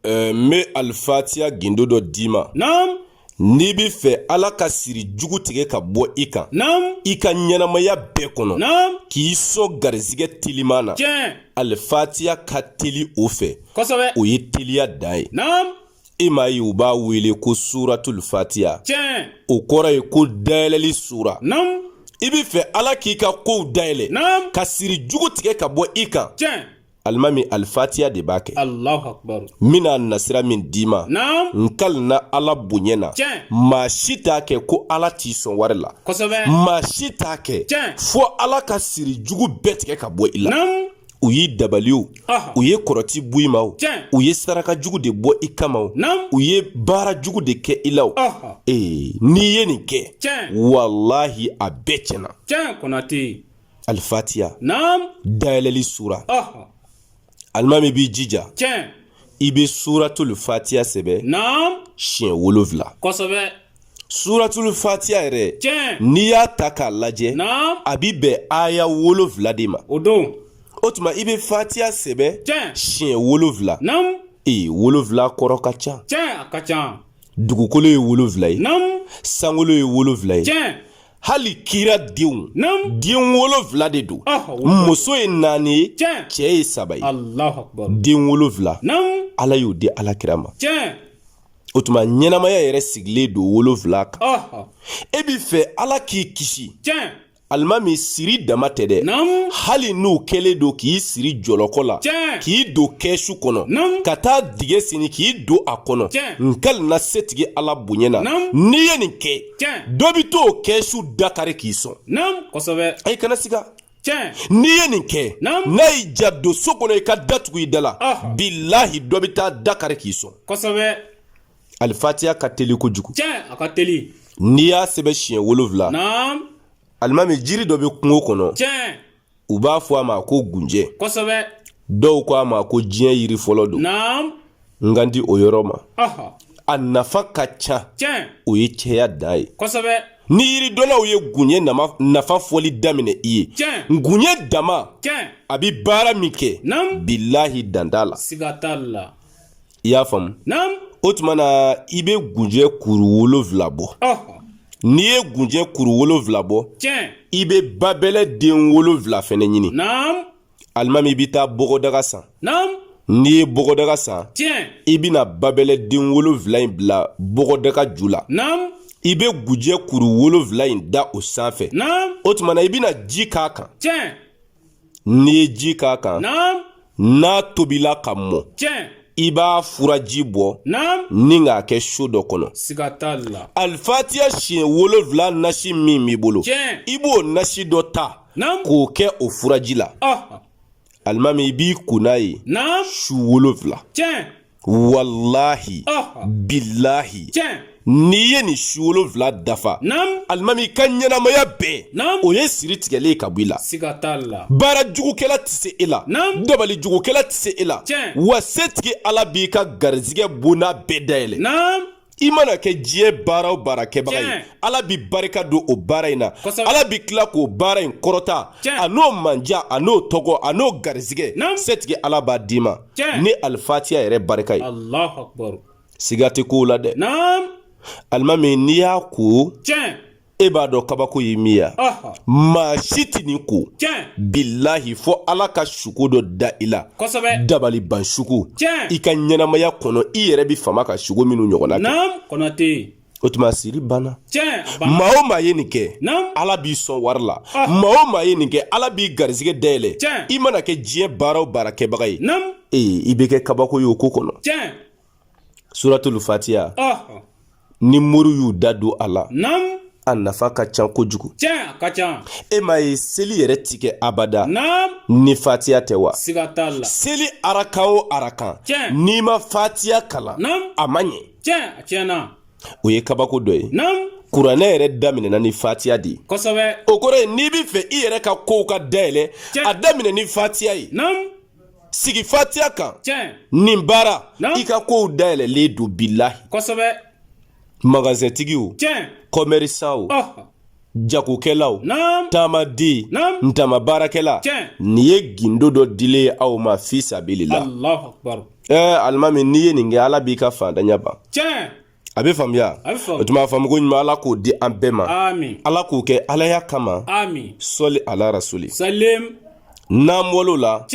ɛɛ n bɛ alifatiya gindo dɔ d'i ma. naamu. n'i bɛ fɛ ala ka siri jugu tigɛ ka bɔ i kan. naamu. i ka ɲɛnamaya bɛɛ kɔnɔ. naamu. k'i sɔn garizigɛ teliman na. tiɲɛ. alifatiya ka teli o fɛ. kosɛbɛ. o ye teliya dan ye. naamu. i m'a ye u b'a wele ko suratul fatiya. tiɲɛ. o kɔrɔ ye ko dayɛlɛli sura. naamu. i bɛ fɛ ala k'i ka kow dayɛlɛ. naamu. ka siri jugu tigɛ ka bɔ i kan. tiɲɛ. alimami alifatiya de b'a kɛ n bɛna nasira min d'i ma n kalina ala bonya na maa si t'a kɛ ko ala t'i sɔn wari la maa si t'a kɛ fo ala ka siri jugu bɛɛ tigɛ ka bɔ i la u y'i dabali o u ye kɔrɔti bɔ i ma o u ye saraka jugu de bɔ i kama o u ye baara jugu de kɛ i la o ee n'i ye nin kɛ walahi a bɛɛ tiɲɛna alifatiya naam dayɛlɛli sura alimami b'i jija tiɲɛ i bɛ suratul fatiya sɛbɛn naam siɲɛ wolonfila kosɛbɛ suratul fatiya yɛrɛ tiɲɛ n'i y'a ta k'a lajɛ naam a bi bɛn aya wolonfila de ma o don o tuma i bɛ fatiya sɛbɛn tiɲɛ siɲɛ wolonfila naam ee wolonfila kɔrɔ ka ca tiɲɛ a ka ca dugukolo ye wolonfila ye naam sankolo ye wolonfila ye tiɲɛ hali kira denw den wolonfila de don ah, muso ye naani ye cɛ ye saba ye den wolonfila ala y'o di ala kira ma o tuma ɲɛnamaya yɛrɛ sigilen don wolonfila kan ah, ah. e bi fɛ ala k'i kisi alimami siri dama tɛ dɛ hali n'u kɛlen don k'i siri jɔlɔkɔ la k'i don kɛsu kɔnɔ ka taa dingɛ sen k'i don a kɔnɔ n kalina setigi ala bonya na n'i ye nin kɛ tiɲɛ dɔ bi t'o kɛsu da kari k'i sɔn naamu kosɛbɛ ayi kana siga tiɲɛ n'i ye nin kɛ Naamu. n'a y'i ja don so kɔnɔ i ka da tugu i da la Ɔhɔ. bilahi dɔ bɛ taa da kari k'i sɔn kosɛbɛ alifatiya ka teli kojugu tiɲɛ a ka teli n'i y'a sɛbɛn siɲɛ wolonfila naamu alimami jiri dɔ bɛ kungo kɔnɔ tiɲɛ u b'a fɔ a ma ko gunjɛ kosɛbɛ dɔw ko a ma ko diɲɛ yiri fɔlɔ don naam n ka di o yɔrɔ ma ɔhɔ a nafa ka ca tiɲɛ o ye cɛya dan ye kosɛbɛ ni yiridɔnnaw ye gunjɛ nama- nafa fɔli daminɛ i ye Tiɲɛ. gunjɛ dama tiɲɛ a bi baara min kɛ Naam. bilahi dan t'a la siga t'a la i y'a faamu o tuma na i bɛ gunjɛ kuru wolonfila bɔ n'i ye gunjɛ kuru wolonfila bɔ i bɛ babɛlɛ den wolonfila fɛnɛ ɲini alimami i bɛ taa bɔgɔdaga san n'i ye bɔgɔdaga san i bɛna babɛlɛ den wolonfila in bila bɔgɔdaga ju la i bɛ gunjɛ kuru wolonfila in da o sanfɛ o tuma na i bɛna ji k'a kan n'i ye ji k'a kan n'a tobila ka mɔ i b'a furaji bɔ ni k'a kɛ so dɔ kɔnɔ alifatiya siɲɛ wolonfila nasi min b'i bolo i b'o nasi dɔ ta k'o kɛ o furaji la alimami i b'i ko n'a ye su wolonfila walahi bilahi n'i ye nin su wolonfila dafa alimami i ka ɲɛnamaya bɛɛ o ye siri tigɛlen ka bɔ i la baara jugukɛla tɛ se e la dabali jugukɛla tɛ se e la wa setigi ala b'i ka garizigɛ bonda bɛɛ dayɛlɛ i mana kɛ diɲɛ baara o baara kɛbaga ye ala bi barika don o baara in na ala bi tila k'o baara in kɔrɔta a n'o manja a n'o tɔgɔ a n'o garizigɛ setigi ala b'a d'i ma ni alifatiya yɛrɛ barika ye siga tɛ kow la dɛ alimami n'i y'a ko e b'a dɔn kabako ye min ye maa si tɛ nin ko bilahi fo ala ka suko dɔ da i la dabali ban suko i ka ɲɛnamaya kɔnɔ i yɛrɛ bɛ fama ka suko minnu ɲɔgɔnna kɛ o tuma siri banna maa o maa ye nin kɛ ala b'i sɔn wari la maa o maa ye nin kɛ ala b'i garisɛgɛ dayɛlɛ i mana kɛ diɲɛ baara o baara kɛbaga ye ee i bɛ kɛ kabako ye o ko kɔnɔ suratul fatiya ni moriw y'u da don a la a nafa ka ca kojugu e m'a ye seli yɛrɛ ti kɛ abada ni fatiya tɛ wa seli arakan o arakan n'i ma fatiya kalan a ma ɲɛ o ye kabako dɔ ye kuranɛ yɛrɛ daminɛna ni fatiya de ye o kɔrɔ ye n'i bɛ fɛ i yɛrɛ ka kow ka dayɛlɛ a daminɛ ni fatiya ye sigi fatiya kan nin baara i ka kow dayɛlɛlen don bilahi kosɛbɛ magazɛntigiw kɔmɛrisanw jagokɛlaw taamaden ntama baarakɛla nin ye gindo dɔ dilen ye aw ma fi sabili la ɛɛ alimami n'i ye nin kɛ ala b'i ka faantanya ban a bɛ faamuya o tuma faamuko ɲuman ala k'o di an bɛɛ ma ala k'o kɛ alaya kama sɔli ala rasuli n'an bɔl'o la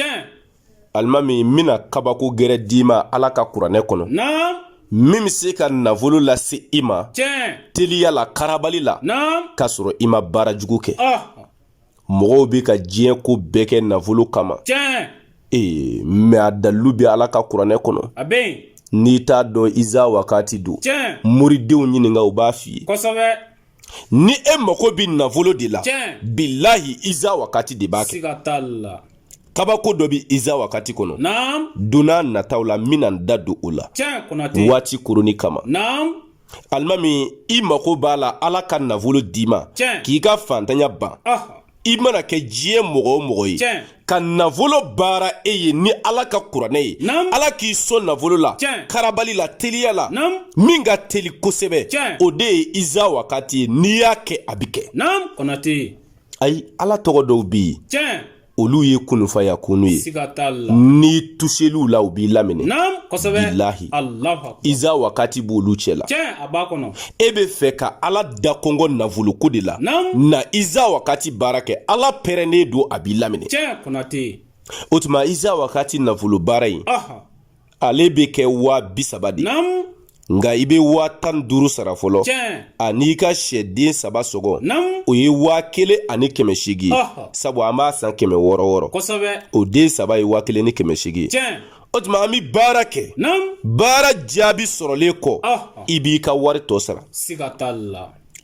alimami n bɛna kabako gɛrɛ d'i ma ala ka kuranɛ kɔnɔ min bɛ se ka nafolo lase i ma teliya la karabali la k'a sɔrɔ i ma baara jugu kɛ mɔgɔw bɛ ka diɲɛ ko bɛɛ kɛ nafolo kama tiɲɛ ee mɛ a dalilu bɛ ala ka kuranɛ kɔnɔ a bɛ yen n'i t'a dɔn iza wakati don tiɲɛ moridenw ɲininka u b'a f'i ye kosɛbɛ ni e mako bɛ nafolo de la tiɲɛ bilahi iza wakati de b'a kɛ siga t'a la kabako dɔ bɛ iza wakati kɔnɔ naam donna nataw la n bɛna n da don o la tiɲɛ konate waati koroni kama naam alimami i mako b'a la ala ka nafolo d'i ma k'i ka fantanya ban i mana kɛ diɲɛ mɔgɔ o mɔgɔ ye ka nafolo baara e ye ni ala ka kuranɛ ye ala k'i sɔn nafolo la karabali la teliya la min ka teli kosɛbɛ o de ye iza wakati ye n'i y'a kɛ a bɛ kɛ ayi ala tɔgɔ dɔw bɛ yen olu ye kunufaya kunu ye n'i tuseliw la u b'i laminɛ bilahi iza wakati b'olu cɛ la e be fɛ ka ala da kɔnkɔn nafoloko de la na iza wakati baara kɛ ala pɛrɛnnen don a b'i laminɛ o tuma iza wakati nafolo baara ye ale bɛ kɛ waa bi saba de nka i bɛ waa tan ni duuru sara fɔlɔ an'i ka sɛden saba sɔngɔ o ye waa kelen ani kɛmɛ seegin ye sabu an b'a san kɛmɛ wɔɔrɔ wɔɔrɔ o den saba ye waa kelen ni kɛmɛ seegin ye o tuma an bɛ baara kɛ baara jaabi sɔrɔlen kɔ i b'i ka wari tɔ sara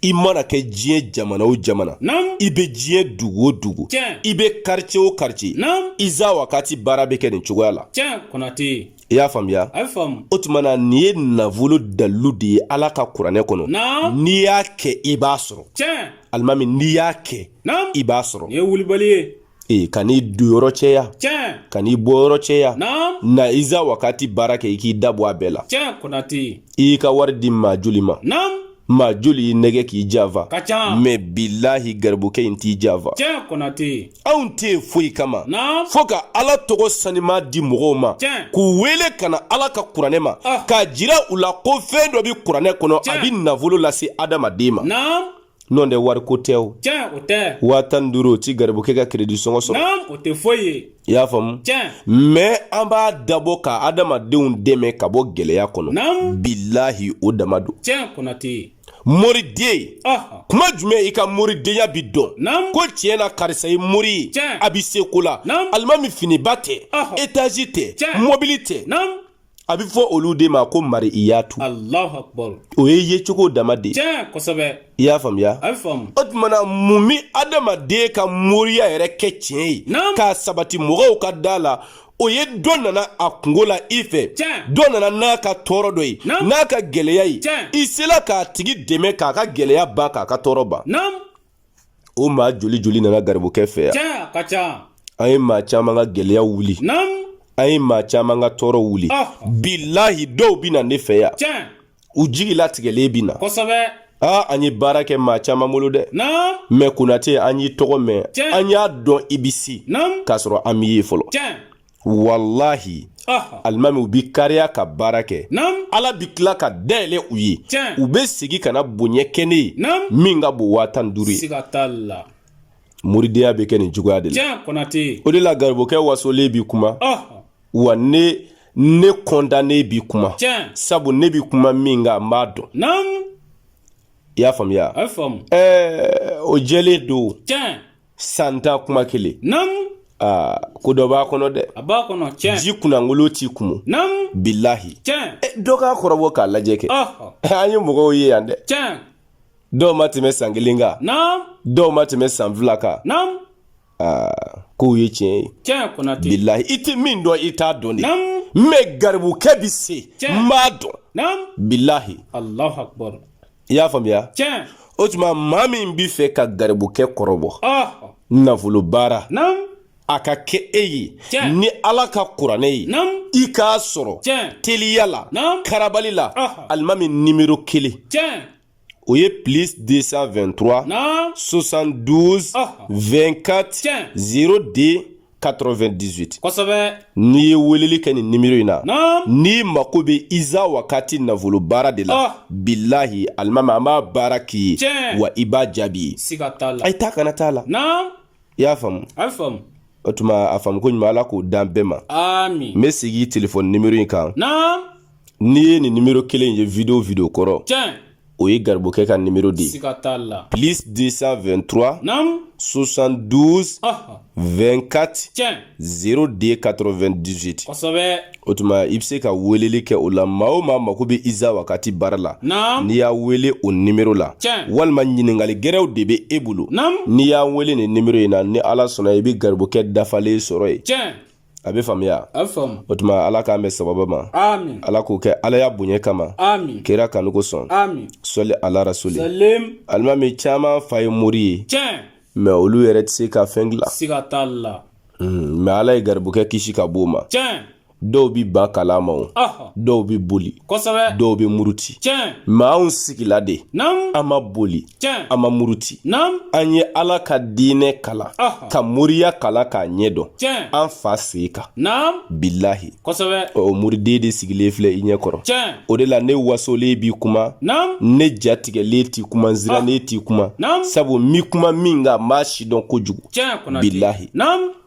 i mana kɛ diɲɛ jamana o jamana i bɛ diɲɛ dugu o dugu i bɛ karice o karice iza wakati baara bɛ kɛ nin cogoya la i y'a faamuya o tuma na nin ye nafolo dalilu de ye ala ka kuranɛ kɔnɔ n'i y'a kɛ i b'a sɔrɔ alimami n'i y'a kɛ i b'a sɔrɔ ee kan'i donyɔrɔ cɛya kan'i bɔyɔrɔ cɛya na iza wakati baara kɛ i k'i da bɔ a bɛɛ la i y'i ka wari di maa joli ma maa joli y'i nɛgɛn k'i janfa mɛ bilahi garibukɛ in t'i janfa anw tɛ yen foyi kama fo ka ala tɔgɔ saniman di mɔgɔw ma k'u wele ka na ala ka kuranɛ ma ah. k'a jira u la ko fɛn dɔ bɛ kuranɛ kɔnɔ a bɛ nafolo lase adamaden ma n'o tɛ wariko tɛ o tiɲɛ o tɛ waa tan ni duuru o ti garibukɛ ka kiredi sɔngɔ sɔrɔ naam o tɛ foyi ye i y'a faamu tiɲɛ mɛ an b'a dabɔ ka adamadenw dɛmɛ ka bɔ gɛlɛya kɔnɔ naam bilahi o dama don tiɲɛ konate moriden kuma jumɛn i ka moridenya bi dɔn ko tiɲɛ na karisa ye mori ye a bi se ko la alimami finiba tɛ etazi tɛ mɔbili tɛ a bɛ fɔ olu de ma ko mariyatu o ye yecogo dama de ye i y'a faamuya o tuma na mun bɛ adamaden ka moriya yɛrɛ kɛ tiɲɛ ye k'a sabati mɔgɔw ka da a la o ye dɔ nana a kunko la i fɛ dɔ nana n'a ka tɔɔrɔ dɔ ye n'a ka gɛlɛya ye i sela k'a tigi dɛmɛ k'a ka gɛlɛya ban k'a ka tɔɔrɔ ban o maa joli joli nana garibukɛ fɛ yan cɛn a ka ca an ye maa caman ka gɛlɛya wuli naam an ye maa caman ka tɔɔrɔ wuli ah. bilahi dɔw bɛ na ne fɛ yan cɛn u jigi latigɛlen bɛ na kosɛbɛ aa an ye baara kɛ maa caman bolo dɛ naam mɛ konate an y'i tɔgɔ mɛn an y'a dɔn i bɛ se k'a sɔrɔ an m'i ye fɔlɔ cɛn walahi alimami u bi kariya ka baara kɛ ala bi tila ka dayɛlɛ u ye u bɛ segin ka na bonya kɛ ne ye min ka bon waa tan duuru ye moridenya bɛ kɛ nin cogoya de la o de la garibukɛ wasolen bi kuma wa ne kɔntannen bi kuma sabu ne bi kuma min kan n b'a dɔn i y'a faamuya ɛɛ o jɛlen don San tan kuma kelen naamu aa ko dɔ b'a kɔnɔ dɛ a b'a kɔnɔ tiɲɛ ji kunnankolo ti kumu naamu bilahi tiɲɛ e, dɔ k'a kɔrɔbɔ k'a lajɛ kɛ ɔhɔ an ye mɔgɔw ye yan dɛ tiɲɛ dɔw ma tɛmɛ san kelen kan naamu dɔw ma tɛmɛ san fila kan naamu aa ko ye tiɲɛ ye tiɲɛ konate bilahi i tɛ min dɔn i t'a dɔn de naamu mɛ garibukɛ bi se Tiɲɛ. n b'a dɔn naamu bilahi alahu akbar i y'a faamuya tiɲɛ o tuma maa min b'i fɛ ka garibukɛ kɔrɔbɔ nafolo baara a ka kɛ e ye ni ala ka kuranɛ ye i k'a sɔrɔ teliya la karabali la alimami nimero kelen o ye plus 223 72 24 02 98 kosɛbɛ n'i ye weleli kɛ nin nimero in na n'i mako bɛ iza wakati nafolo baara de la oh. bilahi alimami an b'a baara k'i ye wa i b'a jaabi ayi taa kana t'a la i y'a faamu a faamu o tuma a faamu ko ɲuman ala k'o d'an bɛɛ ma n bɛ segin telefɔni nimero in kan n'i ye nin nimero kelen ye video video kɔrɔ tiɲɛ o ye garibukɛ ka nimero de ye plus 223 naamu 72 Aha. 24 tiɲɛ 02 98 kosɛbɛ o tuma i bɛ se ka weleli kɛ o la maa o maa mako bɛ iza wakati baara la naamu n'i y'a wele o nimero la tiɲɛ walima ɲininkali gɛrɛw de bɛ e bolo naamu n'i y'a wele nin nimero in na ni ala sɔnna i bɛ garibukɛ dafalen sɔrɔ yen tiɲɛ a bɛ faamuya a bɛ faamu o tuma ala k'an bɛn sababa ma amin ala k'o kɛ alaya bonya kama amin kira kanu kosɔn amin sɔli ala rasuli salim alimami caman fa ye mori ye tiɲɛ mɛ olu yɛrɛ tɛ se ka fɛn dilan siga t'a la mɛ ala ye garibukɛ kisi ka b'o ma tiɲɛ dɔw bi ban kalan ma o ɔhɔ dɔw bi boli kosɛbɛ dɔw bi muruti tiɲɛ mɛ anw sigila de naamu an ma boli an ma muruti an ye ala ka diinɛ kalan ka moriya kalan k'a ɲɛ dɔn an fa sen kan bilahi o muriden de sigilen filɛ i ɲɛ kɔrɔ o de la ne wasolen bi kuma ne jatigɛlen ti kuma n sirannen ti kuma sabu n bi kuma min kan n b'a sidɔn kojugu bilahi